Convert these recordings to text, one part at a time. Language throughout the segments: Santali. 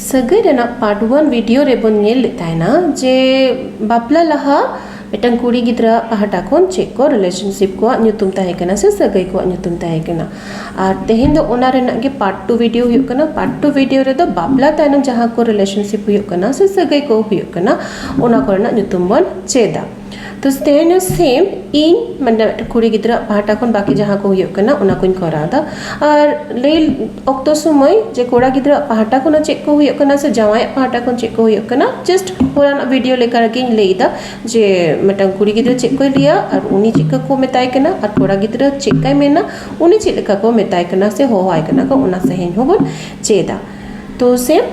ᱥᱟᱹᱜᱟᱹᱭ ᱨᱮᱱᱟᱜ ᱯᱟᱨᱴ ᱚᱣᱟᱱ ᱵᱷᱤᱰᱤᱭᱳ ᱨᱮᱵᱚᱱ ᱧᱮᱞ ᱞᱮᱫ ᱛᱟᱦᱮᱱᱟ ᱡᱮ ᱵᱟᱯᱞᱟ ᱞᱟᱦᱟ ᱢᱤᱫᱴᱟᱝ ᱠᱩᱲᱤ ᱜᱤᱫᱽᱨᱟᱹ ᱯᱟᱦᱴᱟ ᱠᱷᱚᱱ ᱪᱮᱫ ᱠᱚ ᱨᱤᱞᱮᱥᱚᱱᱥᱤᱯ ᱠᱚᱣᱟᱜ ᱧᱩᱛᱩᱢ ᱛᱟᱦᱮᱸ ᱠᱟᱱᱟ ᱥᱮ ᱥᱟᱹᱜᱟᱹᱭ ᱠᱚᱣᱟᱜ ᱧᱩᱛᱩᱢ ᱛᱟᱦᱮᱸ ᱠᱟᱱᱟ ᱟᱨ ᱛᱮᱦᱮᱧ ᱫᱚ ᱚᱱᱟ ᱨᱮᱱᱟᱜ ᱜᱮ ᱯᱟᱨᱴ ᱴᱩ ᱵᱷᱤᱰᱤᱭᱳ ᱦᱩᱭᱩᱜ ᱠᱟᱱᱟ ᱯᱟᱨᱴ ᱴᱩ ᱵᱷᱤᱰᱤᱭᱳ ᱨᱮᱫᱚ ᱵᱟᱯᱞᱟ ᱛᱟᱭᱱᱚᱢ ᱡᱟᱦᱟᱸ ᱠᱚ ᱨᱤᱞᱮᱥᱚᱱᱥᱤᱯ ᱦᱩᱭᱩᱜ ᱠᱟᱱᱟ ᱥᱮ ᱥᱟᱹᱜᱟᱹᱭ ᱠᱚ ᱦᱩᱭᱩᱜ ᱠᱟᱱᱟ ᱚᱱᱟ ᱠᱚᱨᱮᱱᱟᱜ ᱧᱩᱛᱩᱢ ᱵᱚᱱ ᱪᱮᱫᱟ ᱛᱚ ᱥᱴᱮᱱᱳ ᱥᱮᱢ ᱤᱧ ᱢᱟᱱᱮ ᱠᱩᱲᱤ ᱜᱤᱫᱽᱨᱟᱹ ᱯᱟᱦᱴᱟ ᱠᱷᱚᱱ ᱵᱟᱠᱤ ᱡᱟᱦᱟᱸ ᱠᱚ ᱦᱩᱭᱩᱜ ᱠᱟᱱᱟ ᱚᱱᱟ ᱠᱚᱧ ᱠᱚᱨᱟᱣ ᱮᱫᱟ ᱟᱨ ᱞᱟᱹᱭ ᱚᱠᱛᱚ ᱥᱚᱢᱚᱭ ᱡᱮ ᱠᱚᱲᱟ ᱜᱤᱫᱽᱨᱟᱹ ᱯᱟᱦᱴᱟ ᱠᱷᱚᱱ ᱦᱚᱸ ᱪᱮᱫ ᱠᱚ ᱦᱩᱭᱩᱜ ᱠᱟᱱᱟ ᱥᱮ ᱡᱟᱶᱟᱭ ᱯᱟᱦᱴᱟ ᱠᱷᱚᱱ ᱪᱮᱫ ᱠᱚ ᱦᱩᱭᱩᱜ ᱠᱟᱱᱟ ᱡᱟᱥᱴ ᱦᱚᱞᱟᱱᱟᱜ ᱵᱷᱤᱰᱤᱭᱳ ᱞᱮᱠᱟ ᱨᱮᱜᱮᱧ ᱞᱟᱹᱭᱫᱟ ᱡᱮ ᱢᱤᱫᱴᱟᱝ ᱠᱩᱲᱤ ᱜᱤᱫᱽᱨᱟᱹ ᱪᱮᱫ ᱠᱚᱭ ᱞᱟᱹᱭᱟ ᱟᱨ ᱩᱱᱤ ᱪᱮᱫᱠᱟ ᱠᱚ ᱢᱮᱛᱟᱭ ᱠᱟᱱᱟ ᱟᱨ ᱠᱚᱲᱟ ᱜᱤᱫᱽᱨᱟᱹ ᱪᱮᱫ ᱠᱟᱭ ᱢᱮᱱᱟ ᱩᱱᱤ ᱪᱮᱫ ᱞᱮᱠᱟ ᱠᱚ ᱢᱮᱛᱟᱭ ᱠᱟᱱᱟ ᱥᱮ ᱦᱚᱦᱚᱣᱟᱭ ᱠᱟᱱᱟ ᱠᱚ ᱚᱱᱟ ᱥᱟᱹᱦᱤᱡ ᱦᱚᱸᱵᱚᱱ ᱪᱮᱫᱟ ᱛᱚ ᱥᱮᱢ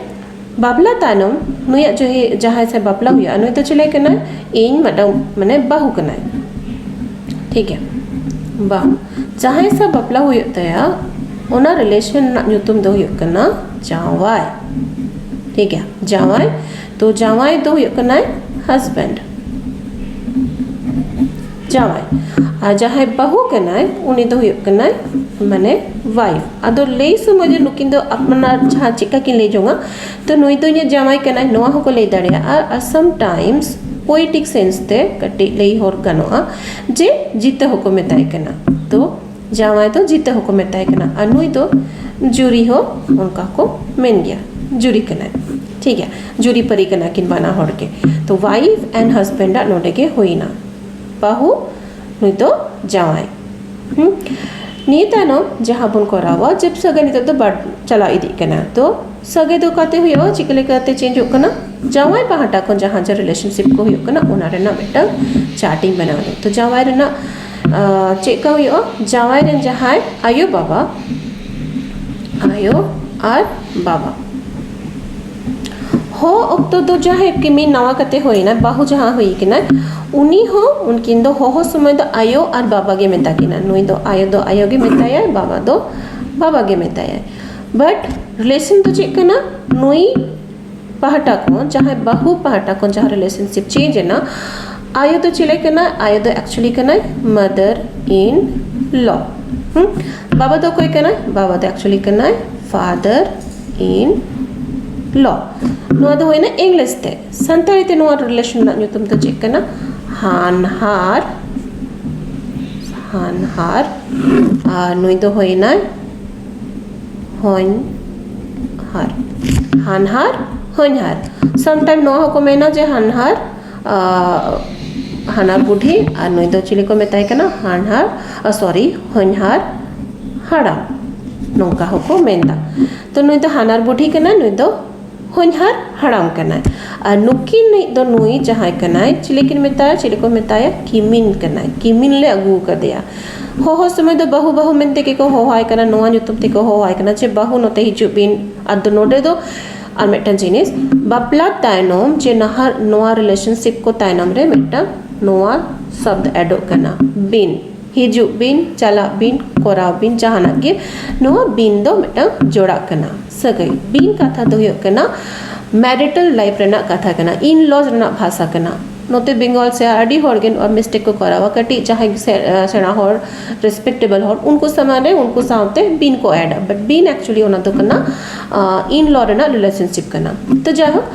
ᱵᱟᱯᱞᱟ ᱛᱟᱭᱱᱚᱢ ᱱᱩᱭᱟᱜ ᱡᱩᱦᱤ ᱡᱟᱦᱟᱸᱭ ᱥᱮ ᱵᱟᱯᱞᱟ ᱦᱩᱭᱩᱜᱼᱟ ᱱᱩᱭ ᱫᱚ ᱪᱤᱞᱤ ᱠᱟᱱᱟᱭ ᱤᱧ ᱢᱤᱫᱴᱟᱝ ᱢᱟᱱᱮ ᱵᱟᱹᱦᱩ ᱠᱟᱱᱟᱭ ᱴᱷᱤᱠ ᱜᱮᱭᱟ ᱵᱟᱝ ᱡᱟᱦᱟᱸᱭ ᱥᱟᱶ ᱵᱟᱯᱞᱟ ᱦᱩᱭᱩᱜ ᱛᱟᱭᱟ ᱚᱱᱟ ᱨᱤᱞᱮᱥᱚᱱ ᱨᱮᱱᱟᱜ ᱧᱩᱛᱩᱢ ᱫᱚ ᱦᱩᱭᱩᱜ ᱠᱟᱱᱟ ᱡᱟᱶᱟᱭ ᱴᱷᱤᱠ ᱜᱮᱭᱟ ᱡᱟᱶᱟᱭ ᱛᱚ ᱡᱟᱶᱟᱭ ᱫᱚ ᱦᱩᱭᱩᱜ ᱠᱟᱱᱟᱭ ᱦᱟᱡᱽᱵᱮᱱᱰ ᱡᱟᱶᱟᱭ ᱟᱨ ᱡᱟᱦᱟᱸᱭ ᱵᱟᱹᱦᱩ ᱠᱟᱱᱟᱭ ᱩᱱᱤ ᱫᱚ ᱦᱩᱭᱩᱜ ᱠᱟᱱᱟᱭ ᱢᱟᱱᱮ ᱣᱟᱭᱤᱯᱷ ᱟᱫᱚ ᱞᱟᱹᱭ ᱥᱚᱢᱚᱭ ᱫᱚ ᱱᱩᱠᱤᱱ ᱫᱚ ᱟᱯᱱᱟᱨ ᱡᱟᱦᱟᱸ ᱪᱮᱫᱠᱟ ᱠᱤᱱ ᱞᱟᱹᱭ ᱡᱚᱝᱟ ᱛᱚ ᱱᱩᱭ ᱫᱚ ᱤᱧᱟᱹᱜ ᱡᱟᱶᱟᱭ ᱠᱟᱱᱟᱭ ᱱᱚᱣᱟ ᱦᱚᱸᱠᱚ ᱞᱟᱹᱭ ᱫᱟᱲᱮᱭᱟᱜᱼᱟ ᱟᱨ ᱥᱟᱢ ᱴᱟᱭᱤᱢᱥ ᱯᱳᱭᱮᱴᱤᱠ ᱥᱮᱱᱥ ᱛᱮ ᱠᱟᱹᱴᱤᱡ ᱞᱟᱹᱭ ᱦᱚᱲ ᱜᱟᱱᱚᱜᱼᱟ ᱡᱮ ᱡᱤᱛᱟᱹ ᱦᱚᱸᱠᱚ ᱢᱮᱛᱟᱭ ᱠᱟᱱᱟ ᱛᱚ ᱡᱟᱶᱟᱭ ᱫᱚ ᱡᱤᱛᱟᱹ ᱦᱚᱸᱠᱚ ᱢᱮᱛᱟᱭ ᱠᱟᱱᱟ ᱟᱨ ᱱᱩᱭ ᱫᱚ ᱡᱩᱨᱤ ᱦᱚᱸ ᱚᱱᱠᱟ ᱠᱚ ᱢᱮᱱ ᱜᱮᱭᱟ ᱡᱩᱨᱤ ᱠᱟᱱᱟᱭ ᱴᱷᱤᱠ ᱜᱮᱭᱟ ᱡᱩᱨᱤ ᱯᱟᱹᱨᱤ ᱠᱟᱱᱟ ᱠᱤᱱ ᱵᱟᱱᱟ ᱦᱚᱲ ᱜᱮ ᱛᱚ ᱣᱟᱭᱤᱯ ᱮᱱᱰ ᱦᱟᱥᱵᱮᱱᱰ ᱟᱜ ᱱᱚᱰᱮ ᱜᱮ ᱦᱩᱭᱱᱟ ᱵᱟᱹᱦᱩ ᱱᱩᱭ ᱫᱚ ᱡᱟᱶᱟᱭ ᱱᱤᱭᱟᱹ ᱛᱟᱭᱱᱚᱢ ᱡᱟᱦᱟᱸ ᱵᱚᱱ ᱠᱚᱨᱟᱣᱟ ᱡᱮᱵ ᱥᱟᱹᱜᱟᱹᱭ ᱱᱤᱛᱚᱜ ᱫᱚ ᱵᱟᱲ ᱪᱟᱞᱟᱣ ᱤᱫᱤᱜ ᱠᱟᱱᱟ ᱛᱚ ᱥᱟᱹᱜᱟᱹᱭ ᱫᱚ ᱚᱠᱟᱛᱮ ᱦᱩᱭᱩᱜᱼᱟ ᱪᱤᱠᱟᱹ ᱞᱮᱠᱟᱛᱮ ᱪᱮᱧᱡᱚᱜ ᱠᱟᱱᱟ ᱡᱟᱶᱟᱭ ᱯᱟᱦᱴᱟ ᱠᱷᱚᱱ ᱡᱟᱦᱟᱸ ᱡᱟᱦᱟᱸ ᱨᱤᱞᱮᱥᱚᱱᱥᱤᱯ ᱠᱚ ᱦᱩᱭᱩᱜ ᱠᱟᱱᱟ ᱚᱱᱟ ᱨᱮᱱᱟᱜ ᱢᱤᱫᱴᱟᱝ ᱪᱟᱨᱴ ᱤᱧ ᱵᱮᱱᱟᱣ ᱮᱫᱟ ᱛᱚ ᱡᱟᱶᱟᱭ ᱨᱮᱱᱟᱜ ᱪᱮᱫᱠᱟ ᱦᱩᱭᱩᱜᱼᱟ ᱡᱟᱶᱟᱭ ᱨᱮᱱ ᱡᱟᱦᱟᱸᱭ ᱟᱭᱳ ᱵᱟᱵᱟ ᱟᱭᱳ ᱟᱨ ᱵᱟᱵᱟ ᱦᱚ ᱚᱠᱛᱚ ᱫᱚ ᱡᱟᱦᱟᱸᱭ ᱠᱤᱢᱤ ᱱᱟᱣᱟ ᱠᱟᱛᱮ ᱦᱩᱭᱱᱟ ᱵᱟᱹᱦᱩ ᱡᱟᱦᱟᱸ ᱦᱩᱭ ᱠᱟᱱᱟᱭ ᱩᱱᱤ ᱦᱚᱸ ᱩᱱᱠᱤᱱ ᱫᱚ ᱦᱚᱦᱚ ᱥᱚᱢᱚᱭ ᱫᱚ ᱟᱭᱳ ᱟᱨ ᱵᱟᱵᱟ ᱜᱮ ᱢᱮᱛᱟ ᱠᱤᱱᱟ ᱱᱩᱭ ᱫᱚ ᱟᱭᱳ ᱫᱚ ᱟᱭᱳ ᱜᱮ ᱢᱮᱛᱟᱭᱟᱭ ᱵᱟᱵᱟ ᱫᱚ ᱵᱟᱵᱟ ᱜᱮ ᱢᱮᱛᱟᱭᱟᱭ ᱵᱟᱴ ᱨᱤᱞᱮᱥᱚᱱ ᱫᱚ ᱪᱮᱫ ᱠᱟᱱᱟ ᱱᱩᱭ ᱯᱟᱦᱴᱟ ᱠᱷᱚᱱ ᱡᱟᱦᱟᱸᱭ ᱵᱟᱹᱦᱩ ᱯᱟᱦᱴᱟ ᱠᱷᱚᱱ ᱡᱟᱦᱟᱸ ᱨᱤᱞᱮᱥᱚᱱᱥᱤᱯ ᱪᱮᱧᱡᱽ ᱮᱱᱟ ᱟᱭᱳ ᱫᱚ ᱪᱤᱞᱤ ᱠᱟᱱᱟᱭ ᱟᱭᱳ ᱫᱚ ᱮᱠᱪᱩᱭᱮᱞᱤ ᱠᱟᱱᱟᱭ ᱢᱟᱫᱟᱨ ᱤᱱ ᱞᱚ ᱵᱟᱵᱟ ᱫᱚ ᱚᱠᱚᱭ ᱠᱟᱱᱟᱭ ᱵᱟᱵᱟ ᱫᱚ ᱮᱠᱪᱩᱭᱮᱞᱤ ᱠᱟᱱᱟᱭ ᱯᱷᱟᱫᱟᱨ ᱤᱱ ᱞᱚ ᱱᱚᱣᱟ ᱫᱚ ᱦᱩᱭᱱᱟ ᱤᱝᱞᱤᱥ ᱛᱮ ᱥᱟᱱᱛᱟᱲᱤ ᱛᱮ ᱱᱚᱣᱟ ᱨᱤᱞᱮᱥᱚᱱ ᱨᱮᱱᱟᱜ ᱧᱩᱛᱩᱢ ᱫᱚ ᱪᱮᱫ ᱠᱟᱱᱟ ᱦᱟᱱᱦᱟᱨ ᱦᱟᱱᱦᱟᱨ ᱟᱨ ᱱᱩᱭ ᱫᱚ ᱦᱩᱭᱱᱟᱭ ᱦᱚᱧᱦᱟᱨ ᱦᱟᱱᱦᱟᱨ ᱦᱚᱧᱦᱟᱨ ᱥᱟᱢᱴᱟᱭᱤᱢ ᱱᱚᱣᱟ ᱦᱚᱸᱠᱚ ᱢᱮᱱᱟ ᱡᱮ ᱦᱟᱱᱦᱟᱨ ᱦᱟᱱᱦᱟᱨ ᱵᱩᱰᱷᱤ ᱟᱨ ᱱᱩᱭ ᱫᱚ ᱪᱤᱞᱤ ᱠᱚ ᱢᱮᱛᱟᱭ ᱠᱟᱱᱟ ᱦᱟᱱᱦᱟᱨ ᱥᱚᱨᱤ ᱦᱚᱧᱦᱟᱨ ᱦᱟᱲᱟᱢ ᱱᱚᱝᱠᱟ ᱦᱚᱸᱠᱚ ᱢᱮᱱᱫᱟ ᱛᱚ ᱱᱩᱭ ᱫᱚ ᱦᱟᱱᱦᱟᱨ ᱵᱩᱰᱷᱤ ᱠᱟᱱᱟᱭ ᱱᱩᱭ ᱫᱚ ᱦᱚᱧᱦᱟᱨ ᱦᱟᱲᱟᱢ ᱠᱟᱱᱟᱭ ᱟᱨ ᱱᱩᱠᱤᱱᱤᱡ ᱫᱚ ᱱᱩᱭ ᱡᱟᱦᱟᱸᱭ ᱠᱟᱱᱟᱭ ᱪᱤᱞᱤ ᱠᱤᱱ ᱢᱮᱛᱟᱭᱟ ᱪᱤᱞᱤ ᱠᱚ ᱢᱮᱛᱟᱭᱟ ᱠᱤᱢᱤᱱ ᱠᱟᱱᱟᱭ ᱠᱤᱢᱤᱱ ᱞᱮ ᱟᱹᱜᱩ ᱟᱠᱟᱫᱮᱭᱟ ᱦᱚᱦᱚ ᱥᱚᱢᱚᱭ ᱫᱚ ᱵᱟᱹᱦᱩ ᱵᱟᱹᱦᱩ ᱢᱮᱱᱛᱮ ᱜᱮᱠᱚ ᱦᱚᱦᱚᱣᱟᱭ ᱠᱟᱱᱟ ᱱᱚᱣᱟ ᱧᱩᱛᱩᱢ ᱛᱮᱠᱚ ᱦᱚᱦᱚᱣᱟᱭ ᱠᱟᱱᱟ ᱡᱮ ᱵᱟᱹᱦᱩ ᱱᱚᱛᱮ ᱦᱤᱡᱩᱜ ᱵᱤᱱ ᱟᱫᱚ ᱱᱚᱰᱮ ᱫᱚ ᱟᱨ ᱢᱤᱫᱴᱟᱝ ᱡᱤᱱᱤᱥ ᱵᱟᱯᱞᱟ ᱛᱟᱭᱱᱚᱢ ᱡᱮ ᱱᱟᱦᱟᱜ ᱱᱚᱣᱟ ᱨᱤᱞᱮᱥᱚᱱᱥᱤᱯ ᱠᱚ ᱛᱟᱭᱱᱚᱢ ᱨᱮ ᱢᱤᱫᱴᱟᱝ ᱱᱚᱣᱟ ᱥᱚᱵᱫᱚ ᱮᱰᱚᱜ ᱠᱟᱱᱟ ᱵᱤᱱ ᱦᱤᱡᱩᱜ ᱵᱤᱱ ᱪᱟᱞᱟᱜ ᱵᱤᱱ ᱠᱚᱨᱟᱣ ᱵᱤᱱ ᱡᱟᱦᱟᱱᱟᱜ ᱜᱮ ᱱᱚᱣᱟ ᱵᱤᱱ ᱫᱚ ᱢᱤᱫᱴᱟᱝ ᱡᱚᱲᱟᱜ ᱠᱟᱱᱟ ᱥᱟᱹᱜᱟᱹᱭ ᱵᱤᱱ ᱠᱟᱛᱷᱟ ᱫᱚ ᱦᱩᱭᱩᱜ ᱠᱟᱱᱟ ᱢᱮᱨᱤᱴᱟᱞ ᱞᱟᱭᱤᱯᱷ ᱨᱮᱱᱟᱜ ᱠᱟᱛᱷᱟ ᱠᱟᱱᱟ ᱤᱱ ᱞᱚ ᱨᱮᱱᱟᱜ ᱵᱷᱟᱥᱟ ᱠᱟᱱᱟ ᱱᱚᱛᱮ ᱵᱮᱝᱜᱚᱞ ᱥᱮᱫ ᱟᱹᱰᱤ ᱦᱚᱲ ᱜᱮ ᱱᱚᱣᱟ ᱢᱤᱥᱴᱮᱠ ᱠᱚ ᱠᱚᱨᱟᱣᱟ ᱠᱟᱹᱴᱤᱡ ᱡᱟᱦᱟᱸᱭ ᱥᱮᱬᱟ ᱦᱚᱲ ᱨᱮᱥᱯᱮᱠᱴᱮᱵᱮᱞ ᱦᱚᱲ ᱩᱱᱠᱩ ᱥᱟᱢᱟᱝ ᱨᱮ ᱩᱱᱠᱩ ᱥᱟᱶᱛᱮ ᱵᱤᱱ ᱠᱚ ᱮᱰᱟ ᱵᱟᱴ ᱵᱤᱱ ᱮᱠᱪᱩᱭᱮᱞᱤ ᱚᱱᱟ ᱫᱚ ᱠᱟᱱᱟ ᱤᱱ ᱞᱚ ᱨᱮᱱᱟᱜ ᱨᱤᱞᱮᱥᱚᱱᱥᱤᱯ ᱠᱟᱱᱟ ᱛᱚ ᱡᱟᱭᱦᱳᱠ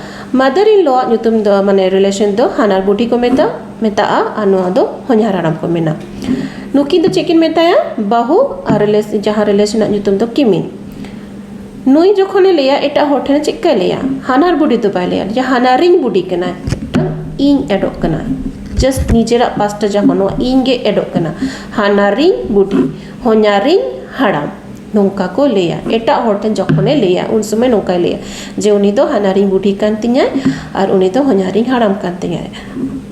ᱢᱟᱫᱟᱨ ᱤᱱ ᱞᱚ ᱟᱜ ᱧᱩᱛᱩᱢ ᱫᱚ ᱢᱟᱱᱮ ᱨᱤᱞᱮᱥᱚᱱ ᱫᱚ ᱦᱟᱱᱦᱟᱨ ᱵᱩᱰᱷᱤ ᱠᱚ ᱢᱮᱛᱟᱜᱼᱟ ᱢᱮᱛᱟᱜᱼᱟ ᱟᱨ ᱱᱚᱣᱟ ᱫᱚ ᱦᱚᱧᱦᱟᱨ ᱦᱟᱲᱟᱢ ᱠᱚ ᱢᱮᱱᱟ ᱱᱩᱠᱤᱱ ᱫᱚ ᱪᱮᱫ ᱠᱤᱱ ᱢᱮᱛᱟᱭᱟ ᱵᱟᱹᱦᱩ ᱟᱨ ᱨᱤᱞᱮᱥ ᱡᱟᱦᱟᱸ ᱨᱤᱞᱮᱥ ᱨᱮᱱᱟᱜ ᱧᱩᱛᱩᱢ ᱫᱚ ᱠᱤᱢᱤᱱ ᱱᱩᱭ ᱡᱚᱠᱷᱚᱱᱮ ᱞᱟᱹᱭᱟ ᱮᱴᱟᱜ ᱦᱚᱲ ᱴᱷᱮᱱ ᱪᱮᱫ ᱠᱟᱭ ᱞᱟᱹᱭᱟ ᱦᱟᱱᱦᱟᱨ ᱵᱩᱰᱷᱤ ᱫᱚ ᱵᱟᱭ ᱞᱟᱹᱭᱟ ᱡᱮ ᱦᱟᱱᱦᱟᱨᱤᱧ ᱵᱩᱰᱷᱤ ᱠᱟᱱᱟᱭ ᱤᱧ ᱮᱰᱚᱜ ᱠᱟᱱᱟ ᱡᱟᱥᱴ ᱱᱤᱡᱮᱨᱟᱜ ᱯᱟᱥᱴᱟ ᱡᱟᱦᱟᱸ ᱱᱚᱣᱟ ᱤᱧ ᱜᱮ ᱮᱰᱚᱜ ᱠᱟᱱᱟ ᱦᱟᱱᱦᱟᱨᱤᱧ ᱵᱩᱰᱷᱤ ᱦᱚᱧᱦᱟᱨᱤᱧ ᱦᱟᱲᱟᱢ ᱱᱚᱝᱠᱟ ᱠᱚ ᱞᱟᱹᱭᱟ ᱮᱴᱟᱜ ᱦᱚᱲ ᱴᱷᱮᱱ ᱡᱚᱠᱷᱚᱱᱮ ᱞᱟᱹᱭᱟ ᱩᱱ ᱥᱚᱢᱚᱭ ᱱᱚᱝᱠᱟᱭ ᱞᱟᱹᱭᱟ ᱡᱮ ᱩᱱᱤ ᱫᱚ ᱦᱟᱱᱦᱟᱨᱤᱧ ᱵᱩᱰᱷᱤ ᱠᱟᱱ ᱛᱤᱧᱟᱭ ᱟᱨ ᱩᱱᱤ ᱫᱚ ᱦᱚᱧᱦᱟᱨᱤᱧ ᱦᱟᱲᱟᱢ ᱠᱟᱱ ᱛᱤᱧᱟᱭ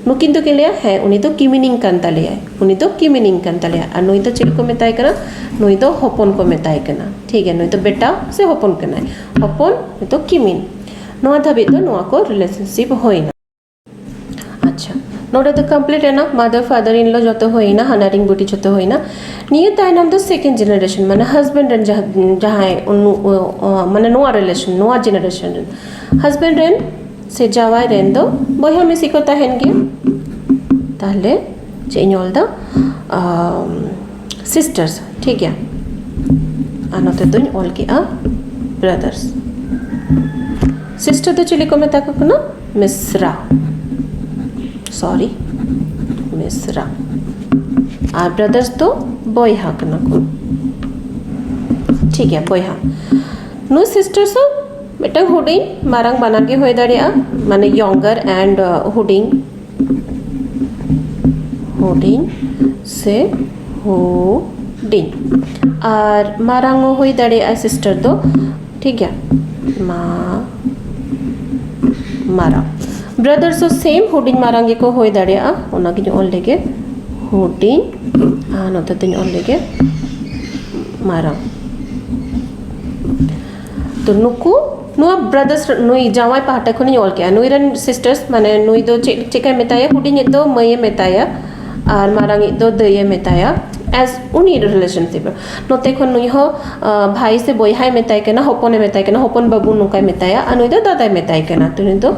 ᱱᱩᱠᱤᱱ ᱫᱚᱠᱤᱱ ᱞᱟᱹᱭᱟ ᱦᱮᱸ ᱩᱱᱤ ᱫᱚ ᱠᱤᱢᱤᱱᱤᱝ ᱠᱟᱱ ᱛᱟᱞᱮᱭᱟᱭ ᱩᱱᱤ ᱫᱚ ᱠᱤᱢᱤᱱᱤᱝ ᱠᱟᱱ ᱛᱟᱞᱮᱭᱟᱭ ᱟᱨ ᱱᱩᱭ ᱫᱚ ᱪᱮᱫ ᱠᱚ ᱢᱮᱛᱟᱭ ᱠᱟᱱᱟ ᱱᱩᱭ ᱫᱚ ᱦᱚᱯᱚᱱ ᱠᱚ ᱢᱮᱛᱟᱭ ᱠᱟᱱᱟ ᱴᱷᱤᱠ ᱜᱮᱭᱟ ᱱᱩᱭ ᱫᱚ ᱵᱮᱴᱟ ᱥᱮ ᱦᱚᱯᱚᱱ ᱠᱟᱱᱟᱭ ᱦᱚᱯᱚᱱ ᱱᱩᱭ ᱫᱚ ᱠᱤᱢᱤᱱ ᱱᱚᱣᱟ ᱫᱷᱟᱹᱵᱤᱡ ᱫᱚ ᱱᱚᱣᱟ ᱠᱚ ᱨᱤᱞᱮᱥᱚᱱᱥᱤᱯ ᱦᱩᱭᱱᱟ ᱟᱪᱪᱷᱟ ᱱᱚᱰᱮ ᱫᱚ ᱠᱚᱢᱯᱞᱤᱴ ᱮᱱᱟ ᱢᱟᱫᱟᱨ ᱯᱷᱟᱫᱟᱨ ᱤᱱ ᱞᱚ ᱡᱚᱛᱚ ᱦᱩᱭᱱᱟ ᱦᱟᱱᱟᱨᱤᱧ ᱵᱩᱰᱤ ᱡᱚᱛᱚ ᱦᱩᱭᱱᱟ ᱱᱤᱭᱟᱹ ᱛᱟᱭᱱᱚᱢ ᱫᱚ ᱥᱮᱠᱮᱱᱰ ᱡᱮᱱᱟᱨᱮᱥᱚᱱ ᱢᱟᱱᱮ ᱦᱟᱡᱵᱮᱱᱰ ᱨᱮᱱ ᱡᱟᱦᱟᱸᱭ ᱢᱟᱱᱮ ᱱᱚᱣᱟ ᱨᱤᱞᱮᱥᱚᱱ ᱱᱚᱣᱟ ᱡᱮᱱᱟᱨᱮᱥᱚᱱ ᱨᱮᱱ ᱦᱟᱡᱵᱮᱱᱰ ᱨᱮᱱ ᱥᱮ ᱡᱟᱶᱟᱭ ᱨᱮᱱ ᱫᱚ ᱵᱚᱭᱦᱟ ᱢᱤᱥᱤ ᱠᱚ ᱛᱟᱦᱮᱱ ᱜᱮᱭᱟ ᱛᱟᱦᱚᱞᱮ ᱪᱮᱫ ᱤᱧ ᱚᱞᱫᱟ ᱥᱤᱥᱴᱟᱨᱥ ᱴᱷᱤᱠ ᱜᱮᱭᱟ ᱟᱨ ᱱᱚᱛᱮ ᱫᱚᱧ ᱚᱞ ᱠᱮᱜᱼᱟ ᱵᱨᱟᱫᱟᱨᱥ ᱥᱤᱥᱴᱟᱨ ᱫᱚ ᱪᱤᱞᱤ ᱠᱚ ᱢᱮᱛᱟ ᱠᱚ ᱠᱟᱱᱟ ᱢᱤᱥᱨᱟ ᱥᱚᱨᱤ ᱢᱤᱥᱨᱟ ᱟᱨ ᱵᱨᱟᱫᱟᱨᱥ ᱫᱚ ᱵᱚᱭᱦᱟ ᱠᱟᱱᱟ ᱠᱚ ᱴᱷᱤᱠ ᱜᱮᱭᱟ ᱵᱚᱭᱦᱟ ᱱᱩᱭ ᱥᱤᱥᱴᱟᱨᱥ ᱦᱚᱸ ᱢᱤᱫᱴᱟᱝ ᱦᱩᱰᱤᱧ ᱢᱟᱨᱟᱝ ᱵᱟᱱᱟᱨ ᱜᱮ ᱦᱩᱭ ᱫᱟᱲᱮᱭᱟᱜᱼᱟ ᱢᱟᱱᱮ ᱭᱚᱝᱜᱟᱨ ᱮᱱᱰ ᱦᱩᱰᱤᱧ ᱦᱩᱰᱤᱧ ᱥᱮ ᱦᱩᱰᱤᱧ ᱟᱨ ᱢᱟᱨᱟᱝ ᱦᱚᱸ ᱦᱩᱭ ᱫᱟᱲᱮᱭᱟᱜᱼᱟ ᱥᱤᱥᱴᱟᱨ ᱫᱚ ᱴᱷᱤᱠ ᱜᱮᱭᱟ ᱢᱟ ᱢᱟᱨᱟᱝ ᱵᱨᱟᱫᱟᱨᱥ ᱦᱚᱸ ᱥᱮᱢ ᱦᱩᱰᱤᱧ ᱢᱟᱨᱟᱝ ᱜᱮᱠᱚ ᱦᱩᱭ ᱫᱟᱲᱮᱭᱟᱜᱼᱟ ᱚᱱᱟᱜᱤᱧ ᱚᱞ ᱞᱮᱜᱮ ᱦᱩᱰᱤᱧ ᱟᱨ ᱱᱚᱛᱮ ᱫᱚᱧ ᱚᱞ ᱞᱮᱜᱮ ᱢᱟᱨᱟᱝ ᱛᱚ ᱱᱩᱠᱩ ᱱᱚᱣᱟ ᱵᱨᱟᱫᱟᱨᱥ ᱱᱩᱭ ᱡᱟᱶᱟᱭ ᱯᱟᱦᱴᱟ ᱠᱷᱚᱱᱤᱧ ᱚᱞ ᱠᱮᱜᱼᱟ ᱱᱩᱭ ᱨᱮᱱ ᱥᱤᱥᱴᱟᱨᱥ ᱢᱟᱱᱮ ᱱᱩᱭ ᱫᱚ ᱪᱮᱫ ᱪᱮᱫᱠᱟᱭ ᱢᱮᱛᱟᱭᱟ ᱦᱩᱰᱤᱧᱤᱡ ᱫᱚ ᱢᱟᱹᱭᱮ ᱢᱮᱛᱟᱭᱟ ᱟᱨ ᱢᱟᱨᱟᱝᱤᱡ ᱫᱚ ᱫᱟᱹᱭᱮ ᱢᱮᱛᱟᱭᱟ ᱮᱥ ᱩᱱᱤ ᱨᱤᱞᱮᱥᱚᱱᱥᱤᱯ ᱨᱮ ᱱᱚᱛᱮ ᱠᱷᱚᱱ ᱱᱩᱭ ᱦᱚᱸ ᱵᱷᱟᱭ ᱥᱮ ᱵᱚᱭᱦᱟᱭ ᱢᱮᱛᱟᱭ ᱠᱟᱱᱟ ᱦᱚᱯᱚᱱᱮ ᱢᱮᱛᱟᱭ ᱠᱟᱱᱟ ᱦᱚᱯᱚᱱ ᱵᱟᱹᱵᱩ ᱱᱚᱝᱠᱟᱭ ᱢᱮᱛᱟᱭᱟ ᱟᱨ ᱱᱩᱭ ᱫᱚ ᱫᱟᱫᱟᱭ ᱢᱮᱛᱟᱭ ᱠᱟᱱᱟ ᱛᱚ ᱱᱩᱭ ᱫᱚ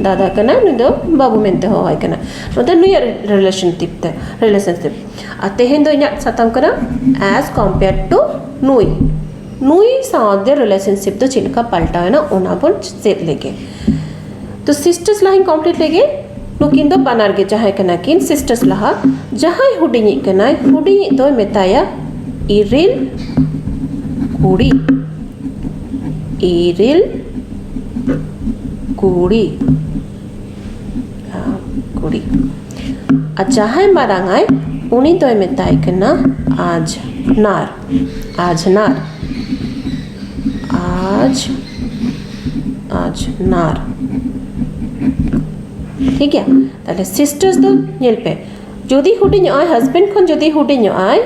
ᱫᱟᱫᱟ ᱠᱟᱱᱟᱭ ᱱᱩᱭ ᱫᱚ ᱵᱟᱹᱵᱩ ᱢᱮᱱᱛᱮ ᱦᱚᱦᱚᱣᱟᱭ ᱠᱟᱱᱟ ᱱᱚᱛᱮ ᱱᱩᱭᱟᱜ ᱨᱤᱞᱮᱥᱚᱱᱥᱤᱯ ᱛᱮ ᱨᱤᱞᱮᱥᱚᱱᱥᱤᱯ ᱟᱨ ᱛᱮᱦᱮᱧ ᱫᱚ ᱤᱧᱟᱹᱜ ᱥᱟᱛᱟᱢ ᱠᱟᱱᱟ ᱮᱥ ᱠᱚᱢᱯᱮᱭᱟᱨ ᱴᱩ ᱱᱩᱭ ᱱᱩᱭ ᱥᱟᱶᱛᱮ ᱨᱤᱞᱮᱥᱚᱱᱥᱤᱯ ᱫᱚ ᱪᱮᱫ ᱞᱮᱠᱟ ᱯᱟᱞᱴᱟᱣᱮᱱᱟ ᱚᱱᱟ ᱵᱚᱱ ᱪᱮᱫ ᱞᱮᱜᱮ ᱛᱚ ᱥᱤᱥᱴᱟᱨᱥ ᱞᱟᱦᱟᱧ ᱠᱚᱢᱯᱞᱤᱴ ᱞᱮᱜᱮ ᱱᱩᱠᱤᱱ ᱫᱚ ᱵᱟᱱᱟᱨ ᱜᱮ ᱡᱟᱦᱟᱸᱭ ᱠᱟᱱᱟ ᱠᱤᱱ ᱥᱤᱥᱴᱟᱨᱥ ᱞᱟᱦᱟ ᱡᱟᱦᱟᱸᱭ ᱦᱩᱰᱤᱧᱤᱡ ᱠᱟᱱᱟᱭ ᱦᱩᱰᱤᱧᱤᱡ ᱫᱚᱭ ᱢᱮᱛᱟᱭᱟ ᱤᱨᱤᱞ ᱠᱩᱲᱤ ᱤᱨᱤᱞ ᱠᱩᱲᱤ ᱠᱩᱲᱤ ᱟᱨ ᱡᱟᱦᱟᱸᱭ ᱢᱟᱨᱟᱝ ᱟᱭ ᱩᱱᱤ ᱫᱚᱭ ᱢᱮᱛᱟᱭ ᱠᱟᱱᱟ ᱟᱡ ᱱᱟᱨ ᱟᱡᱷᱱᱟᱨ ᱟᱡ ᱟᱡᱷᱱᱟᱨ ᱴᱷᱤᱠ ᱜᱮᱭᱟ ᱛᱟᱦᱞᱮ ᱥᱤᱥᱴᱟᱨᱥ ᱫᱚ ᱧᱮᱞ ᱯᱮ ᱡᱩᱫᱤ ᱦᱩᱰᱤᱧᱚᱜᱼᱟᱭ ᱦᱟᱥᱵᱮᱱᱰ ᱠᱷᱚᱱ ᱡᱩᱫᱤ ᱦᱩᱰᱤᱧᱚᱜᱼᱟᱭ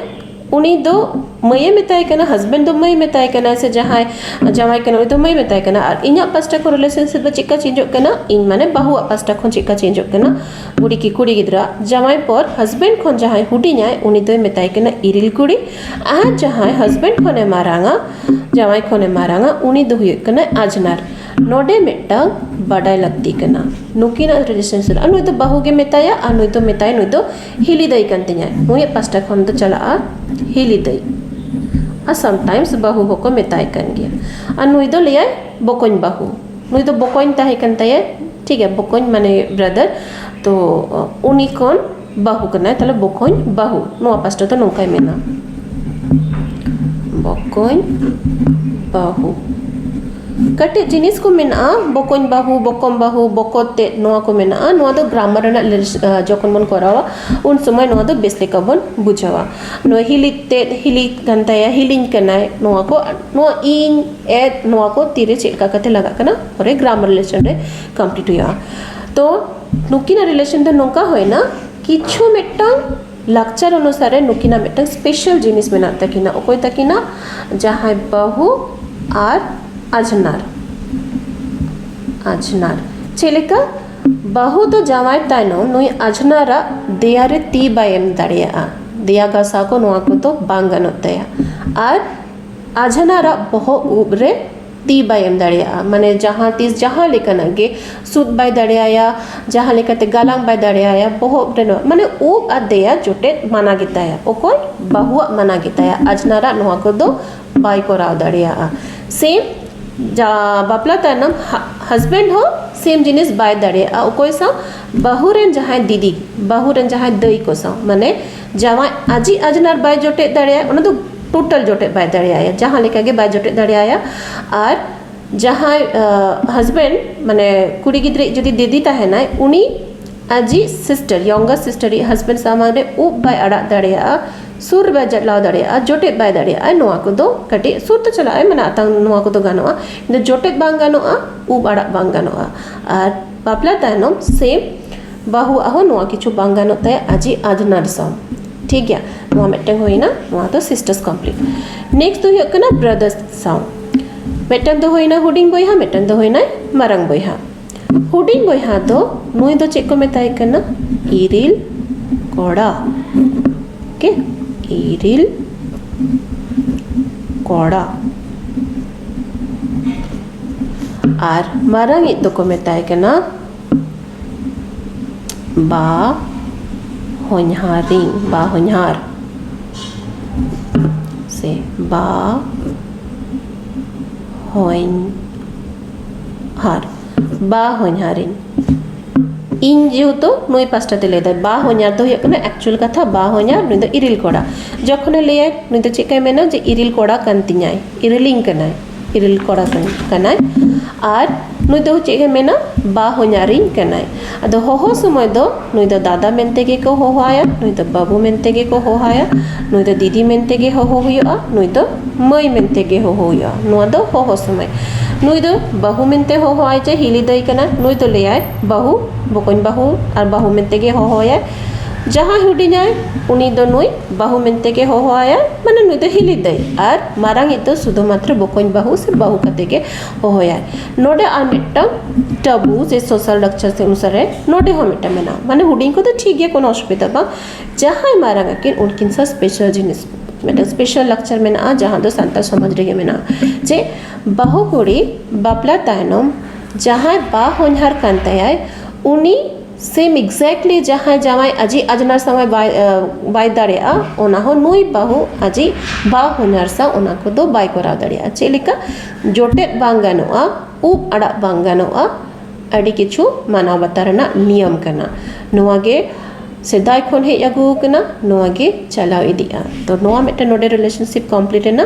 ᱩᱱᱤ ᱫᱚ ᱢᱟᱹᱭᱮ ᱢᱮᱛᱟᱭ ᱠᱟᱱᱟ ᱦᱟᱥᱵᱮᱱᱰ ᱫᱚ ᱢᱟᱹᱭ ᱢᱮᱛᱟᱭ ᱠᱟᱱᱟ ᱥᱮ ᱡᱟᱦᱟᱸᱭ ᱡᱟᱶᱟᱭ ᱠᱟᱱᱟ ᱩᱱᱤ ᱫᱚ ᱢᱟᱹᱭ ᱢᱮᱛᱟᱭ ᱠᱟᱱᱟ ᱟᱨ ᱤᱧᱟᱹᱜ ᱯᱟᱥᱴᱟ ᱠᱷᱚᱱ ᱨᱤᱞᱮᱥᱚᱱᱥᱤᱯ ᱫᱚ ᱪᱮᱫᱠᱟ ᱪᱮᱧᱡᱚᱜ ᱠᱟᱱᱟ ᱤᱧ ᱢᱟᱱᱮ ᱵᱟᱹᱦᱩᱣᱟᱜ ᱯᱟᱥᱴᱟ ᱠᱷᱚᱱ ᱪᱮᱫᱠᱟ ᱪᱮᱧᱡᱚᱜ ᱠᱟᱱᱟ ᱵᱩᱲᱦᱤ ᱠᱤ ᱠᱩᱲᱤ ᱜᱤᱫᱽᱨᱟᱹ ᱟᱜ ᱡᱟᱶᱟᱭ ᱯᱚᱨ ᱦᱟᱥᱵᱮᱱᱰ ᱠᱷᱚᱱ ᱡᱟᱦᱟᱸᱭ ᱦᱩᱰᱤᱧᱟᱭ ᱩᱱᱤ ᱫᱚᱭ ᱢᱮᱛᱟᱭ ᱠᱟᱱᱟ ᱤᱨᱤᱞ ᱠᱩᱲᱤ ᱟᱨ ᱡᱟᱦᱟᱸᱭ ᱦᱟᱥᱵᱮᱱᱰ ᱠᱷᱚᱱᱮ ᱢᱟᱨᱟᱝᱟ ᱡᱟᱶᱟᱭ ᱠᱷᱚᱱᱮ ᱢᱟᱨᱟᱝᱟ ᱩᱱᱤ ᱫᱚ ᱦᱩᱭᱩᱜ ᱠᱟᱱᱟᱭ ᱟᱡᱷᱱᱟᱨ ᱱᱚᱰᱮ ᱢᱤᱫᱴᱟᱝ ᱵᱟᱰᱟᱭ ᱞᱟᱹᱠᱛᱤ ᱠᱟᱱᱟ ᱱᱩᱠᱤᱱᱟᱜ ᱨᱮᱡᱤᱥᱴᱨᱮᱥᱚᱱ ᱟᱨ ᱱᱩᱭ ᱫᱚ ᱵᱟᱹᱦᱩ ᱜᱮ ᱢᱮᱛᱟᱭᱟ ᱟᱨ ᱱᱩᱭ ᱫᱚ ᱢᱮᱛᱟᱭ ᱱᱩᱭ ᱫᱚ ᱦᱤᱞᱤ ᱫᱟᱹᱭ ᱠᱟᱱ ᱛᱤᱧᱟᱭ ᱱᱩᱭᱟᱜ ᱯᱟᱥᱴᱟ ᱠᱷᱚᱱ ᱫᱚ ᱪᱟᱞᱟᱜᱼᱟ ᱦᱤᱞᱤ ᱫᱟᱹᱭ ᱟᱨ ᱥᱟᱢᱴᱟᱭᱤᱢᱥ ᱵᱟᱹᱦᱩ ᱦᱚᱸᱠᱚ ᱢᱮᱛᱟᱭ ᱠᱟᱱ ᱜᱮᱭᱟ ᱟᱨ ᱱᱩᱭ ᱫᱚ ᱞᱟᱹᱭᱟᱭ ᱵᱚᱠᱚᱧ ᱵᱟᱹᱦᱩ ᱱᱩᱭ ᱫᱚ ᱵᱚᱠᱚᱧ ᱛᱟᱦᱮᱸ ᱠᱟᱱ ᱛᱟᱭᱟ ᱴᱷᱤᱠ ᱜᱮᱭᱟ ᱵᱚᱠᱚᱧ ᱢᱟᱱᱮ ᱵᱨᱟᱫᱟᱨ ᱛᱚ ᱩᱱᱤ ᱠᱷᱚᱱ ᱵᱟᱹᱦᱩ ᱠᱟᱱᱟᱭ ᱛᱟᱦᱚᱞᱮ ᱵᱚᱠᱚᱧ ᱵᱟᱹᱦᱩ ᱱᱚᱣᱟ ᱯᱟᱥᱴᱟ ᱫᱚ ᱱᱚᱝᱠᱟᱭ ᱢᱮᱱᱟ ᱵᱚᱠᱚᱧ ᱵᱟᱹᱦᱩ ᱠᱟᱹᱴᱤᱡ ᱡᱤᱱᱤᱥ ᱠᱚ ᱢᱮᱱᱟᱜᱼᱟ ᱵᱚᱠᱚᱧ ᱵᱟᱹᱦᱩ ᱵᱚᱠᱚᱢ ᱵᱟᱹᱦᱩ ᱵᱚᱠᱚᱛ ᱛᱮᱫ ᱱᱚᱣᱟ ᱠᱚ ᱢᱮᱱᱟᱜᱼᱟ ᱱᱚᱣᱟ ᱫᱚ ᱜᱨᱟᱢᱟᱨ ᱨᱮᱱᱟᱜ ᱡᱚᱠᱷᱚᱱ ᱵᱚᱱ ᱠᱚᱨᱟᱣᱟ ᱩᱱ ᱥᱚᱢᱚᱭ ᱱᱚᱣᱟ ᱫᱚ ᱵᱮᱥ ᱞᱮᱠᱟ ᱵᱚᱱ ᱵᱩᱡᱷᱟᱹᱣᱟ ᱱᱚᱣᱟ ᱦᱤᱞᱤ ᱛᱮᱫ ᱦᱤᱞᱤ ᱠᱟᱱ ᱛᱟᱭᱟ ᱦᱤᱞᱤᱧ ᱠᱟᱱᱟᱭ ᱱᱚᱣᱟ ᱠᱚ ᱱᱚᱣᱟ ᱤᱧ ᱮᱰ ᱱᱚᱣᱟ ᱠᱚ ᱛᱤᱨᱮ ᱪᱮᱫ ᱞᱮᱠᱟ ᱠᱟᱛᱮ ᱞᱟᱜᱟᱜ ᱠᱟᱱᱟ ᱯᱚᱨᱮ ᱜᱨᱟᱢᱟᱨ ᱨᱤᱞᱮᱥᱚᱱ ᱨᱮ ᱠᱚᱢᱯᱞᱤᱴ ᱦᱩᱭᱩᱜᱼᱟ ᱛᱚ ᱱᱩᱠᱤᱱᱟᱜ ᱨᱤᱞᱮᱥᱚᱱ ᱫᱚ ᱱᱚᱝᱠᱟ ᱦᱩᱭᱮᱱᱟ ᱠᱤᱪᱷᱩ ᱢᱤᱫᱴᱟᱝ ᱞᱟᱠᱪᱟᱨ ᱚᱱᱩᱥᱟᱨᱮ ᱱᱩᱠᱤᱱᱟᱜ ᱢᱤᱫᱴᱟᱝ ᱥᱯᱮᱥᱟᱞ ᱡᱤᱱᱤᱥ ᱢᱮᱱᱟᱜ ᱛᱟᱹᱠᱤᱱᱟ ᱚᱠᱚᱭ ᱛᱟᱹᱠᱤᱱᱟᱜ ᱡᱟᱦᱟᱸᱭ ᱵᱟᱹᱦᱩ ᱟᱨ ᱟᱡᱷᱱᱟᱨ ᱟᱡᱷᱱᱟᱨ ᱪᱮᱫ ᱞᱮᱠᱟ ᱵᱟᱹᱦᱩ ᱫᱚ ᱡᱟᱶᱟᱭ ᱛᱟᱭᱱᱚᱢ ᱱᱩᱭ ᱟᱡᱷᱱᱟᱨᱟᱜ ᱫᱮᱭᱟ ᱨᱮ ᱛᱤ ᱵᱟᱭ ᱮᱢ ᱫᱟᱲᱮᱭᱟᱜᱼᱟ ᱫᱮᱭᱟ ᱜᱷᱟᱥᱟᱣ ᱠᱚ ᱱᱚᱣᱟ ᱠᱚᱫᱚ ᱵᱟᱝ ᱜᱟᱱᱚᱜ ᱛᱟᱭᱟ ᱟᱨ ᱟᱡᱷᱱᱟᱨᱟᱜ ᱵᱚᱦᱚᱜ ᱩᱵ ᱨᱮ ᱛᱤ ᱵᱟᱭ ᱮᱢ ᱫᱟᱲᱮᱭᱟᱜᱼᱟ ᱢᱟᱱᱮ ᱡᱟᱦᱟᱸ ᱛᱤᱥ ᱡᱟᱦᱟᱸ ᱞᱮᱠᱟᱱᱟᱜ ᱜᱮ ᱥᱩᱫ ᱵᱟᱭ ᱫᱟᱲᱮᱭᱟᱭᱟ ᱡᱟᱦᱟᱸ ᱞᱮᱠᱟᱛᱮ ᱜᱟᱞᱟᱝ ᱵᱟᱭ ᱫᱟᱲᱮᱭᱟᱭᱟ ᱵᱚᱦᱚᱜ ᱨᱮᱱᱟᱜ ᱢᱟᱱᱮ ᱩᱵ ᱟᱨ ᱫᱮᱭᱟ ᱡᱚᱴᱮᱫ ᱢᱟᱱᱟ ᱜᱮᱛᱟᱭᱟ ᱚᱠᱚᱭ ᱵᱟᱹᱦᱩᱣᱟᱜ ᱢᱟᱱᱟ ᱜᱮᱛᱟᱭᱟ ᱟᱡᱷᱱᱟᱨᱟᱜ ᱱᱚᱣᱟ ᱠᱚᱫᱚ ᱵᱟᱭ ᱠᱚᱨᱟᱣ ᱫᱟᱲᱮᱭᱟᱜᱼᱟ ᱥᱮ ᱵᱟᱯᱞᱟ ᱛᱟᱭᱱᱚᱢ ᱦᱟᱡᱽᱵᱮᱱᱰ ᱦᱚᱸ ᱥᱮᱢ ᱡᱤᱱᱤᱥ ᱵᱟᱭ ᱫᱟᱲᱮᱭᱟᱜᱼᱟ ᱚᱠᱚᱭ ᱥᱟᱶ ᱵᱟᱹᱦᱩ ᱨᱮᱱ ᱡᱟᱦᱟᱸᱭ ᱫᱤᱫᱤ ᱵᱟᱹᱦᱩ ᱨᱮᱱ ᱡᱟᱦᱟᱸᱭ ᱫᱟᱹᱭ ᱠᱚ ᱥᱟᱶ ᱢᱟᱱᱮ ᱡᱟᱶᱟᱭ ᱟᱡᱤᱡ ᱟᱡᱽᱱᱟᱨ ᱵᱟᱭ ᱡᱚᱴᱮᱫ ᱫᱟᱲᱮᱭᱟᱭᱟ ᱚᱱᱟ ᱫᱚ ᱴᱳᱴᱟᱞ ᱡᱚᱴᱮᱫ ᱵᱟᱭ ᱫᱟᱲᱮᱭᱟᱭᱟ ᱡᱟᱦᱟᱸ ᱞᱮᱠᱟ ᱜᱮ ᱵᱟᱭ ᱡᱚᱴᱮᱫ ᱫᱟᱲᱮᱭᱟᱭᱟ ᱟᱨ ᱡᱟᱦᱟᱸᱭ ᱦᱟᱡᱽᱵᱮᱱᱰ ᱢᱟᱱᱮ ᱠᱩᱲᱤ ᱜᱤᱫᱽᱨᱟᱹᱭᱤᱡ ᱡᱩᱫᱤ ᱫᱤᱫᱤ ᱛᱟᱦᱮᱱᱟᱭ ᱩᱱᱤ ᱟᱡᱤᱡ ᱥᱤᱥᱴᱟᱨ ᱭᱚᱝᱜᱟᱨ ᱥᱤᱥᱴᱟᱨ ᱤᱡ ᱦᱟᱡᱽᱵᱮᱱᱰ ᱥᱟᱢᱟᱝ ᱨᱮ ᱩᱵ ᱵᱟᱭ ᱟᱲᱟᱜ ᱫᱟᱲᱮᱭᱟᱜᱼᱟ ᱥᱩᱨ ᱨᱮ ᱵᱟᱭ ᱪᱟᱞᱟᱣ ᱫᱟᱲᱮᱭᱟᱜᱼᱟ ᱡᱚᱴᱮᱫ ᱵᱟᱭ ᱫᱟᱲᱮᱭᱟᱜᱼᱟ ᱱᱚᱣᱟ ᱠᱚᱫᱚ ᱠᱟᱹᱴᱤᱡ ᱥᱩᱨ ᱛᱮ ᱪᱟᱞᱟᱜᱼᱟᱭ ᱢᱟᱱᱮ ᱟᱛᱟᱝ ᱱᱚᱣᱟ ᱠᱚᱫᱚ ᱜᱟᱱᱚᱜᱼᱟ ᱠᱤᱱᱛᱩ ᱡᱚᱴᱮᱫ ᱵᱟᱝ ᱜᱟᱱᱚᱜᱼᱟ ᱩᱵ ᱟᱲᱟᱜ ᱵᱟᱝ ᱜᱟᱱᱚᱜᱼᱟ ᱟᱨ ᱵᱟᱯᱞᱟ ᱛᱟᱭᱱᱚᱢ ᱥᱮᱢ ᱵᱟᱹᱦᱩᱣᱟᱜ ᱦᱚᱸ ᱱᱚᱣᱟ ᱠᱤᱪᱷᱩ ᱵᱟᱝ ᱜᱟᱱᱚᱜ ᱛᱟᱭᱟ ᱟᱡᱤᱡ ᱟᱡᱽᱱᱟᱨ ᱥᱟᱶ ᱴᱷᱤᱠ ᱜᱮᱭᱟ ᱱᱚᱣᱟ ᱢᱤᱫᱴᱟᱝ ᱦᱩᱭᱱᱟ ᱱᱚᱣᱟ ᱫᱚ ᱥᱤᱥᱴᱟᱨᱥ ᱠᱚᱢᱯᱞᱤᱴ ᱱᱮᱠᱥᱴ ᱫᱚ ᱦᱩᱭᱩᱜ ᱠᱟᱱᱟ ᱵᱨᱟᱫᱟᱨᱥ ᱥᱟᱶ ᱢᱤᱫᱴᱟᱝ ᱫᱚ ᱦᱩᱭᱱᱟ ᱦᱩᱰᱤᱧ ᱵᱚᱭᱦᱟ ᱢᱤᱫᱴᱟᱝ ᱫᱚ ᱦᱩᱭᱱᱟᱭ ᱢᱟᱨᱟᱝ ᱵᱚᱭᱦᱟ ᱦᱩᱰᱤᱧ ᱵᱚᱭᱦᱟ ᱫᱚ ᱱᱩᱭ ᱫᱚ ᱪᱮᱫ ᱠᱚ ᱢᱮᱛᱟᱭ ᱠᱟᱱᱟ ᱤᱨᱤᱞ ᱠᱚᱲᱟ ᱳᱠᱮ ᱤᱨᱤᱞ ᱠᱚᱲᱟ ᱟᱨ ᱢᱟᱨᱟᱝ ᱤᱡ ᱫᱚᱠᱚ ᱢᱮᱛᱟᱭ ᱠᱟᱱᱟ ᱵᱟ ᱦᱚᱧᱦᱟᱨᱤᱧ ᱵᱟ ᱦᱚᱧᱦᱟᱨ ᱥᱮ ᱵᱟ ᱦᱚᱧᱦᱟᱨ ᱵᱟ ᱦᱚᱧᱦᱟᱨᱤᱧ ᱤᱧ ᱡᱮᱦᱮᱛᱩ ᱱᱩᱭ ᱯᱟᱥᱴᱟ ᱛᱮ ᱞᱟᱹᱭᱫᱟᱭ ᱵᱟ ᱦᱚᱧᱟᱨ ᱫᱚ ᱦᱩᱭᱩᱜ ᱠᱟᱱᱟ ᱮᱠᱪᱩᱭᱮᱞ ᱠᱟᱛᱷᱟ ᱵᱟ ᱦᱚᱧᱟᱨ ᱱᱩᱭ ᱫᱚ ᱤᱨᱤᱞ ᱠᱚᱲᱟ ᱡᱚᱠᱷᱚᱱᱮ ᱞᱟᱹᱭᱟᱭ ᱱᱩᱭ ᱫᱚ ᱪᱮᱫ ᱞᱮᱠᱟᱭ ᱢᱮᱱᱟ ᱡᱮ ᱤᱨᱤᱞ ᱠᱚᱲᱟ ᱠᱟᱱ ᱛᱤᱧᱟᱭ ᱤᱨᱤᱞᱤᱧ ᱠᱟᱱᱟᱭ ᱤᱨᱤᱞ ᱠᱚᱲᱟ ᱠᱟᱱᱟᱭ ᱟᱨ ᱱᱩᱭ ᱫᱚ ᱪᱮᱫ ᱮ ᱢᱮᱱᱟ ᱵᱟ ᱦᱚᱧᱦᱟᱨᱤᱧ ᱠᱟᱱᱟᱭ ᱟᱫᱚ ᱦᱚᱦᱚ ᱥᱚᱢᱚᱭ ᱫᱚ ᱱᱩᱭ ᱫᱚ ᱫᱟᱫᱟ ᱢᱮᱱᱛᱮ ᱜᱮᱠᱚ ᱦᱚᱦᱚ ᱟᱭᱟ ᱱᱩᱭ ᱫᱚ ᱵᱟᱹᱵᱩ ᱢᱮᱱᱛᱮ ᱜᱮᱠᱚ ᱦᱚᱦᱚ ᱟᱭᱟ ᱱᱩᱭ ᱫᱚ ᱫᱤᱫᱤ ᱢᱮᱱᱛᱮ ᱜᱮ ᱦᱚᱦᱚ ᱦᱩᱭᱩᱜᱼᱟ ᱱᱩᱭ ᱫᱚ ᱢᱟᱹᱭ ᱢᱮᱱᱛᱮ ᱜᱮ ᱦᱚᱦᱚ ᱦᱩᱭᱩᱜᱼᱟ ᱱᱚᱣᱟ ᱫᱚ ᱦᱚᱦᱚ ᱥᱚᱢᱚᱭ ᱱᱩᱭ ᱫᱚ ᱵᱟᱹᱦᱩ ᱢᱮᱱᱛᱮ ᱦᱚᱦᱚ ᱟᱭ ᱡᱮ ᱦᱤᱞᱤ ᱫᱟᱹᱭ ᱠᱟᱱᱟᱭ ᱱᱩᱭ ᱫᱚ ᱞᱟᱹᱭ ᱟᱭ ᱵᱟᱹᱦᱩ ᱵᱚᱠᱚᱧ ᱵᱟᱹᱦᱩ ᱟᱨ ᱵᱟᱹᱦᱩ ᱢᱮᱱᱛᱮ ᱜᱮ ᱦᱚᱦᱚ ᱟᱭᱟᱭ ᱡᱟᱦᱟᱸᱭ ᱦᱩᱰᱤᱧᱟᱭ ᱩᱱᱤ ᱫᱚ ᱱᱩᱭ ᱵᱟᱹᱦᱩ ᱢᱮᱱᱛᱮ ᱜᱮ ᱦᱚᱦᱚᱣᱟᱭᱟ ᱢᱟᱱᱮ ᱱᱩᱭ ᱫᱚ ᱦᱤᱞᱤ ᱫᱟᱹᱭ ᱟᱨ ᱢᱟᱨᱟᱝ ᱤᱡ ᱫᱚ ᱥᱩᱫᱷᱩ ᱢᱟᱛᱨᱚ ᱵᱚᱠᱚᱧ ᱵᱟᱹᱦᱩ ᱥᱮ ᱵᱟᱹᱦᱩ ᱠᱟᱛᱮ ᱜᱮ ᱦᱚᱦᱚᱣᱟᱭᱟ ᱱᱚᱰᱮ ᱟᱨ ᱢᱤᱫᱴᱟᱝ ᱴᱟᱹᱵᱩ ᱥᱮ ᱥᱳᱥᱟᱞ ᱞᱟᱠᱪᱟᱨ ᱥᱮ ᱚᱱᱩᱥᱟᱨᱮ ᱱᱚᱰᱮ ᱦᱚᱸ ᱢᱤᱫᱴᱟᱝ ᱢᱮᱱᱟᱜᱼᱟ ᱢᱟᱱᱮ ᱦᱩᱰᱤᱧ ᱠᱚᱫᱚ ᱴᱷᱤᱠ ᱜᱮᱭᱟ ᱠᱳᱱᱳ ᱚᱥᱩᱵᱤᱫᱟ ᱵᱟᱝ ᱡᱟᱦᱟᱸᱭ ᱢᱟᱨᱟᱝ ᱟᱹᱠᱤᱱ ᱩᱱᱠᱤᱱ ᱥᱟᱶ ᱥᱯᱮᱥᱟᱞ ᱡᱤᱱᱤᱥ ᱢᱤᱫᱴᱟᱝ ᱥᱯᱮᱥᱟᱞ ᱞᱟᱠᱪᱟᱨ ᱢᱮᱱᱟᱜᱼᱟ ᱡᱟᱦᱟᱸ ᱫᱚ ᱥᱟᱱᱛᱟᱲ ᱥᱚᱢᱟᱡᱽ ᱨᱮᱜᱮ ᱢᱮᱱᱟᱜᱼᱟ ᱡᱮ ᱵᱟᱹᱦᱩ ᱠᱩᱲᱤ ᱵᱟᱯᱞᱟ ᱛᱟᱭᱱᱚᱢ ᱡᱟᱦᱟᱸᱭ ᱵᱟ ᱦᱚᱧᱦᱟᱨ ᱠᱟᱱ ᱛᱟᱭᱟᱭ ᱩᱱᱤ ᱥᱮᱢ ᱮᱠᱡᱮᱠᱴᱞᱤ ᱡᱟᱦᱟᱸᱭ ᱡᱟᱶᱟᱭ ᱟᱡᱤᱡ ᱟᱡᱷᱱᱟᱨ ᱥᱟᱶ ᱮ ᱵᱟᱭ ᱵᱟᱭ ᱫᱟᱲᱮᱭᱟᱜᱼᱟ ᱚᱱᱟ ᱦᱚᱸ ᱱᱩᱭ ᱵᱟᱹᱦᱩ ᱟᱡᱤᱡ ᱵᱟᱨ ᱦᱚᱧᱦᱟᱨ ᱥᱟᱶ ᱚᱱᱟ ᱠᱚᱫᱚ ᱵᱟᱭ ᱠᱚᱨᱟᱣ ᱫᱟᱲᱮᱭᱟᱜᱼᱟ ᱪᱮᱫ ᱞᱮᱠᱟ ᱡᱚᱴᱮᱫ ᱵᱟᱝ ᱜᱟᱱᱚᱜᱼᱟ ᱩᱵ ᱟᱲᱟᱜ ᱵᱟᱝ ᱜᱟᱱᱚᱜᱼᱟ ᱟᱹᱰᱤ ᱠᱤᱪᱷᱩ ᱢᱟᱱᱟᱣ ᱵᱟᱛᱟᱣ ᱨᱮᱱᱟᱜ ᱱᱤᱭᱚᱢ ᱠᱟᱱᱟ ᱱᱚᱣᱟ ᱜᱮ ᱥᱮᱫᱟᱭ ᱠᱷᱚᱱ ᱦᱮᱡ ᱟᱹᱜᱩᱣᱟᱠᱟᱱᱟ ᱱᱚᱣᱟ ᱜᱮ ᱪᱟᱞᱟᱣ ᱤᱫᱤᱜᱼᱟ ᱛᱚ ᱱᱚᱣᱟ ᱢᱤᱫᱴᱮᱱ ᱱᱚᱰᱮ ᱨᱤᱞᱮᱥᱚᱱᱥᱤᱯ ᱠᱚᱢᱯᱞᱤᱴ ᱮᱱᱟ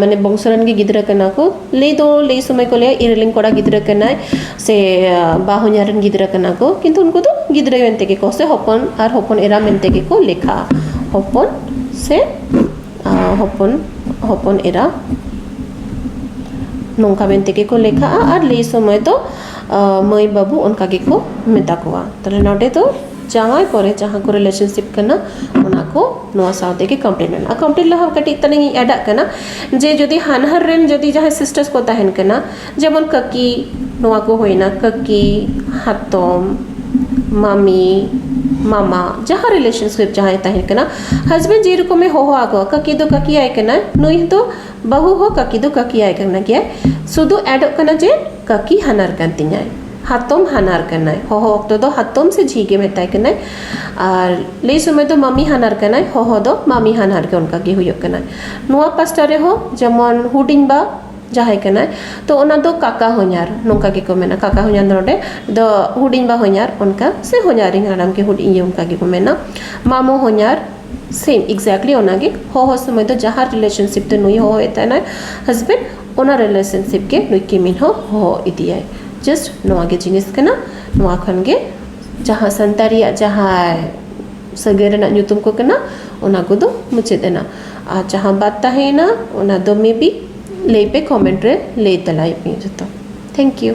ᱢᱟᱱᱮ ᱵᱚᱝᱥᱚ ᱨᱮᱱ ᱜᱮ ᱜᱤᱫᱽᱨᱟᱹ ᱠᱟᱱᱟ ᱠᱚ ᱞᱟᱹᱭ ᱫᱚ ᱞᱟᱹᱭ ᱥᱚᱢᱚᱭ ᱠᱚ ᱞᱟᱹᱭᱟ ᱤᱧ ᱨᱮᱱ ᱠᱚᱲᱟ ᱜᱤᱫᱽᱨᱟᱹ ᱠᱟᱱᱟᱭ ᱥᱮ ᱵᱟ ᱦᱚᱧᱦᱟᱨ ᱨᱮᱱ ᱜᱤᱫᱽᱨᱟᱹ ᱠᱟᱱᱟ ᱠᱚ ᱠᱤᱱᱛᱩ ᱩᱱᱠᱩ ᱫᱚ ᱜᱤᱫᱽᱨᱟᱹ ᱢᱮᱱᱛᱮ ᱜᱮ ᱥᱮ ᱦᱚᱯᱚᱱ ᱟᱨ ᱦᱚᱯᱚᱱ ᱮᱨᱟ ᱢᱮᱱᱛᱮ ᱜᱮᱠᱚ ᱞᱮᱠᱷᱟᱜᱼᱟ ᱦᱚᱯᱚᱱ ᱥᱮ ᱦᱚᱯᱚᱱ ᱦᱚᱯᱚᱱ ᱮᱨᱟ ᱱᱚᱝᱠᱟ ᱢᱮᱱᱛᱮ ᱜᱮᱠᱚ ᱞᱮᱠᱷᱟᱜᱼᱟ ᱟᱨ ᱞᱟᱹᱭ ᱥᱚᱢᱚᱭ ᱫᱚ ᱢᱟᱹᱭ ᱵᱟᱹᱵᱩ ᱚᱱᱠᱟ ᱜᱮᱠᱚ ᱢᱮᱛᱟ ᱠᱚᱣᱟ ᱛᱟᱦᱚᱞᱮ ᱱᱚᱰᱮ ᱫᱚ ᱡᱟᱶᱟᱭ ᱯᱚᱨᱮ ᱡᱟᱦᱟᱸ ᱠᱚ ᱨᱤᱞᱮᱥᱚᱱᱥᱤᱯ ᱠᱟᱱᱟ ᱚᱱᱟ ᱠᱚ ᱱᱚᱣᱟ ᱥᱟᱶ ᱛᱮᱜᱮ ᱠᱚᱢᱯᱤᱞᱤᱴ ᱢᱮᱱᱟᱜᱼᱟ ᱠᱚᱢᱯᱤᱞᱤᱴ ᱞᱟᱦᱟ ᱠᱟᱹᱴᱤᱡ ᱛᱟᱞᱟᱝ ᱤᱧ ᱮᱰᱟᱜ ᱠᱟᱱᱟ ᱡᱮ ᱡᱩᱫᱤ ᱦᱟᱱᱦᱟᱨ ᱨᱮᱱ ᱡᱩᱫᱤ ᱡᱟᱦᱟᱸᱭ ᱥᱤᱥᱴᱟᱨ ᱠᱚ ᱛᱟᱦᱮᱱ ᱠᱟᱱᱟ ᱡᱮᱢᱚᱱ ᱠᱟᱹᱠᱤ ᱱᱚᱣᱟ ᱠᱚ ᱦᱩᱭᱱᱟ ᱠᱟᱹᱠᱤ ᱦᱟᱛᱚᱢ ᱢᱟᱢᱤ ᱢᱟᱢᱟ ᱡᱟᱦᱟᱸ ᱨᱤᱞᱮᱥᱚᱱᱥᱤᱯ ᱡᱟᱦᱟᱸᱭ ᱛᱟᱦᱮᱱ ᱠᱟᱱᱟ ᱦᱟᱡᱽᱵᱮᱱᱰ ᱡᱮ ᱨᱚᱠᱚᱢᱮ ᱦᱚᱦᱚ ᱟᱠᱚᱣᱟ ᱠᱟᱹᱠᱤ ᱫᱚ ᱠᱟᱹᱠᱤ ᱟᱭ ᱠᱟᱱᱟᱭ ᱱᱩᱭ ᱫᱚ ᱵᱟᱹᱦᱩ ᱦᱚᱸ ᱠᱟᱹᱠᱤ ᱫᱚ ᱠᱟᱹᱠᱤ ᱟᱭ ᱠᱟᱱ ᱜᱮᱭᱟᱭ ᱥᱩᱫᱩ ᱮᱰᱚᱜ ᱠᱟᱱᱟ ᱡᱮ ᱠᱟᱹᱠᱤ ᱦᱟᱱᱟᱨ ᱠᱟᱱ ᱛᱤᱧᱟᱭ ᱦᱟᱛᱚᱢ ᱦᱟᱱᱟᱨ ᱠᱟᱱᱟᱭ ᱦᱚᱦᱚ ᱚᱠᱛᱚ ᱫᱚ ᱦᱟᱛᱚᱢ ᱥᱮ ᱡᱷᱤ ᱜᱮ ᱢᱮᱛᱟᱭ ᱠᱟᱱᱟᱭ ᱟᱨ ᱞᱟᱹᱭ ᱥᱚᱢᱚᱭ ᱫᱚ ᱢᱟᱢᱤ ᱦᱟᱱᱟᱨ ᱠᱟᱱᱟᱭ ᱦᱚᱦᱚ ᱫᱚ ᱢᱟᱢᱤ ᱦᱟᱱᱦᱟᱨ ᱜᱮ ᱚᱱᱠᱟ ᱜᱮ ᱦᱩᱭᱩᱜ ᱠᱟᱱᱟ ᱱᱚᱣᱟ ᱯᱟᱥᱴᱟ ᱨᱮᱦᱚᱸ ᱡᱮᱢᱚᱱ ᱦᱩᱰᱤᱧ ᱵᱟ ᱡᱟᱦᱟᱸᱭ ᱠᱟᱱᱟᱭ ᱛᱚ ᱚᱱᱟ ᱫᱚ ᱠᱟᱠᱟ ᱦᱚᱧᱦᱟᱨ ᱱᱚᱝᱠᱟ ᱜᱮᱠᱚ ᱢᱮᱱᱟ ᱠᱟᱠᱟ ᱦᱚᱧᱦᱟᱨ ᱫᱚ ᱱᱚᱰᱮ ᱫᱚ ᱦᱩᱰᱤᱧ ᱵᱟ ᱦᱚᱧᱦᱟᱨ ᱚᱱᱠᱟ ᱥᱮ ᱦᱚᱧᱦᱟᱨᱤᱧ ᱦᱟᱲᱟᱢ ᱜᱮ ᱦᱩᱰᱤᱧ ᱤᱭᱟᱹ ᱚᱱᱠᱟ ᱜᱮᱠᱚ ᱢᱮᱱᱟ ᱢᱟᱢᱚ ᱦᱚᱧᱦᱟᱨ ᱥᱮᱢ ᱮᱠᱡᱮᱠᱴᱞᱤ ᱚᱱᱟᱜᱮ ᱦᱚᱦᱚ ᱥᱚᱢᱚᱭ ᱫᱚ ᱡᱟᱦᱟᱸ ᱨᱤᱞᱮᱥᱚᱱᱥᱤᱯ ᱛᱮ ᱱᱩᱭ ᱦᱚᱦᱚᱭᱮ ᱛᱟᱦᱮᱱᱟᱭ ᱦᱟᱥᱵᱮᱱᱰ ᱚᱱᱟ ᱨᱤᱞᱮᱥᱚᱱᱥᱤᱯ ᱜᱮ ᱱᱩᱭ ᱠᱤᱢᱤᱱ ᱦᱚᱸ ᱦᱚᱦᱚ ᱤᱫᱤᱭᱟᱭ ᱡᱟᱥᱴ ᱱᱚᱣᱟ ᱜᱮ ᱡᱤᱱᱤᱥ ᱠᱟᱱᱟ ᱱᱚᱣᱟ ᱠᱷᱚᱱ ᱜᱮ ᱡᱟᱦᱟᱸ ᱥᱟᱱᱛᱟᱲᱤᱭᱟᱜ ᱡᱟᱦᱟᱸ ᱥᱟᱹᱜᱟᱹᱭ ᱨᱮᱱᱟᱜ ᱧᱩᱛᱩᱢ ᱠᱚ ᱠᱟᱱᱟ ᱚᱱᱟ ᱠᱚᱫᱚ ᱢᱩᱪᱟᱹᱫ ᱮᱱᱟ ᱟᱨ ᱡᱟᱦᱟᱸ ᱵᱟᱫ ᱛᱟᱦᱮᱸᱭᱮᱱᱟ ᱚᱱᱟ ᱫᱚ ᱢᱮᱵᱤ ᱞᱟᱹᱭ ᱯᱮ ᱠᱚᱢᱮᱱᱴ ᱨᱮ ᱞᱟᱹᱭ ᱛᱮᱞᱟᱭ ᱯᱮ ᱡᱚᱛᱚ ᱛᱷᱮᱝᱠ ᱤᱭᱩ